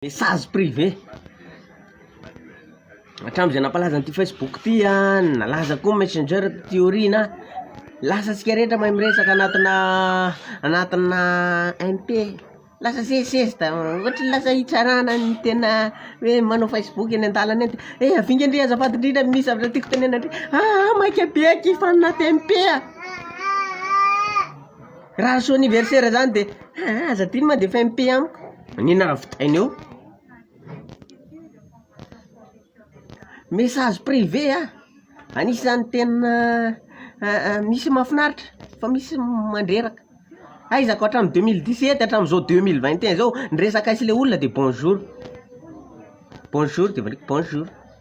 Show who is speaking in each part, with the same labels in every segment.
Speaker 1: Message privé. Hatramin'izay nampalaza an'ity Facebook ity an, nalaza koa Messenger ty aoriana, lasa antsika rehetra mahay miresaka anatina anatina MP. Lasa sesisesy da ohatry ny lasa hitsarana ny tena hoe manao Facebook eny an-dalana eny. Eh havinga ndry azafady indrindra misy zavatra tiako tenena ndry. Ah maika be akia fa anaty MP a. Raha soa anniversaire zany de aa aza adino ma de efa MP amiko ny nahavitany eo. Message privé a, anisan'ny tena misy mahafinaritra fa misy mandreraka, haizako hatramin'ny deux mille dix sept hatramin'izao deux mille vingt et un zao ny resaka aisy le olona de bonjour, bonjour de bonjour.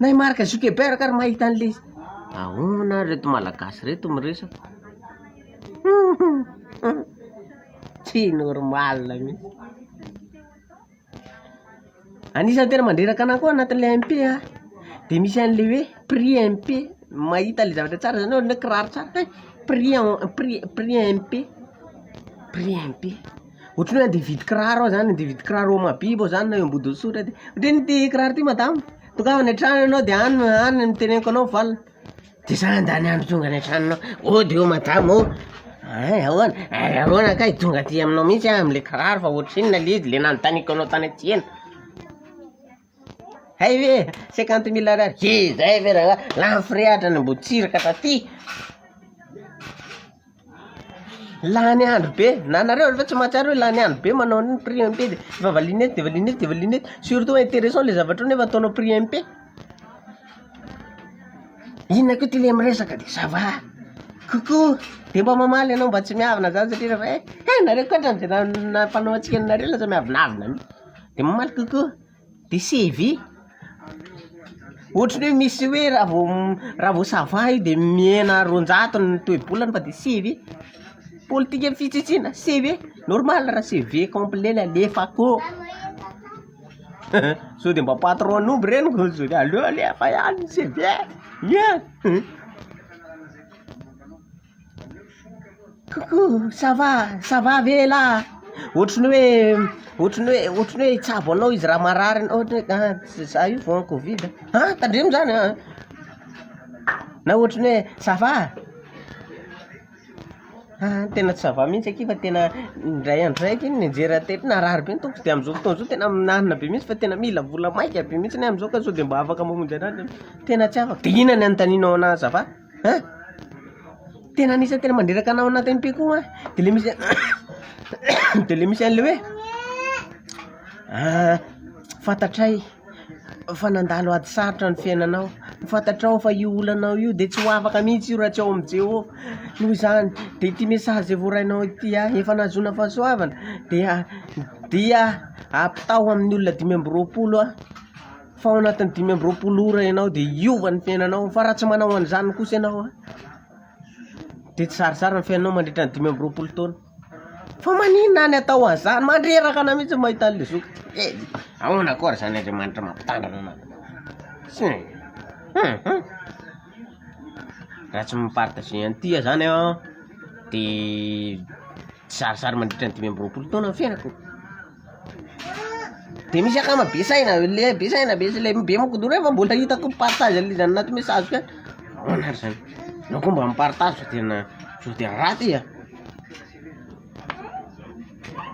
Speaker 1: Nay Marc Zuckerberg ary mahita an'le ahoana ary reto malagasy reto miresaka tsy normal mintsy anisan'ny tena mandreraka anah koa anatin'le MP a de misy an'le hoe prix MP mahita le zavatra tsara zany ohatran'ny hoe kiraro tsara prix prix prix MP prix MP Ohatran'ny hoe andeha hividy kiraro aho zany, andeha hividy kiraro ao Mahabibo aho zany na eo Ambodinsotra de, ohatran'ny hoe ty kiraro ty madama, tongava any an-trano ianao de any no any no teneniko anao valiny, de za handany andro tonga any an-tranonao, oh de oh madama oh, hay ahoana, hay ahoana kay, tonga aty aminao mihintsy aho am'le kiraro fa ohatrinona le izy le nanontaniako anao tany aty ela. Hay ve e! cinquante mille Ariary he zay ve ra lany frais atrany Ambohitsiraka taty, lany andro be, na nareo ve tsy mahatsiaro hoe lany andro be manao an'iny prix MP de efa valiana eto de valiana eto de valiana eto, surtout intéressant le zavatra io nefa ataonao prix MP, inona koa ty le miresaka de ça va coucou de mba mamaly anao mba tsy miavona zany satria refa eh nareo ko atrany ze raha nampanao antsika nareo lasa miavonavona mi. De mamaly kokoa de se ve ohatry ny hoe misy hoe raha vao raha vao ça va io de mihena roanjato ny toe-bolany fa de se ve politika fitsitsiana se ve normal raha se ve complet le alefako sao de mba patron omby reny ko sao de aleo alefa ihany ny se ve ie. Coucou ça va ça va ve elah ohatry ny hoe ohatry ny hoe ohatry ny hoe hitsabo anao izy raha marary anao ohatra hoe an tsy zah io vao covid an tandremo zany an na ohatry ny hoe ça va an tena tsy ça va mintsy akia fa tena indray andro zay akia ny nianjera teto narary be ny tongoko de amizao fotoana zao tena mihinanana be mintsy fa tena mila vola maika be mintsy ny ahy amizao ka sao de mba afaka mamonjy anah tena tsy afaka de inona ny anontanianao anah ça va. Hein? Tena anisany tena mandreraka anao anatin'ny pe koa de le misy de le misy an'le hoe ah, fantatray fa nandalo ady sarotra ny fiainanao, fantatrao fa io olanao io de tsy ho afaka mihitsy io raha tsy ao amin'i Jeho. Noho izany, de ity message izay voarainao ity ah, efa nahazoana fahasoavana dia dia ampitao amin'ny olona dimy amby roapolo ah. fa ao anatin'ny dimy amby roapolo ora ianao dia hiova ny fiainanao fa raha tsy manao an'izany kosa ianao an dia tsy zarizary ny fiainanao mandritra ny dimy amby roapolo taona fa maninona any atao an'izany mandreraka anao mihintsy ny mahita an'ilay zoky eh ahoana koa ary zany Andriamanitra mampitandrina anao tsy eh hum hum raha tsy mi-partager an'ity aho zany an dia tsy zarizary mandritra ny dimy amby roapolo taona ny fiainako. Dia misy akama be saina, le be saina be le be moko daholo nefa mbola hitako ny partage an'le izy any anaty message ko any, ahoana ary zany, anao koa mba mi-partage sao tena sao dia ratsy e.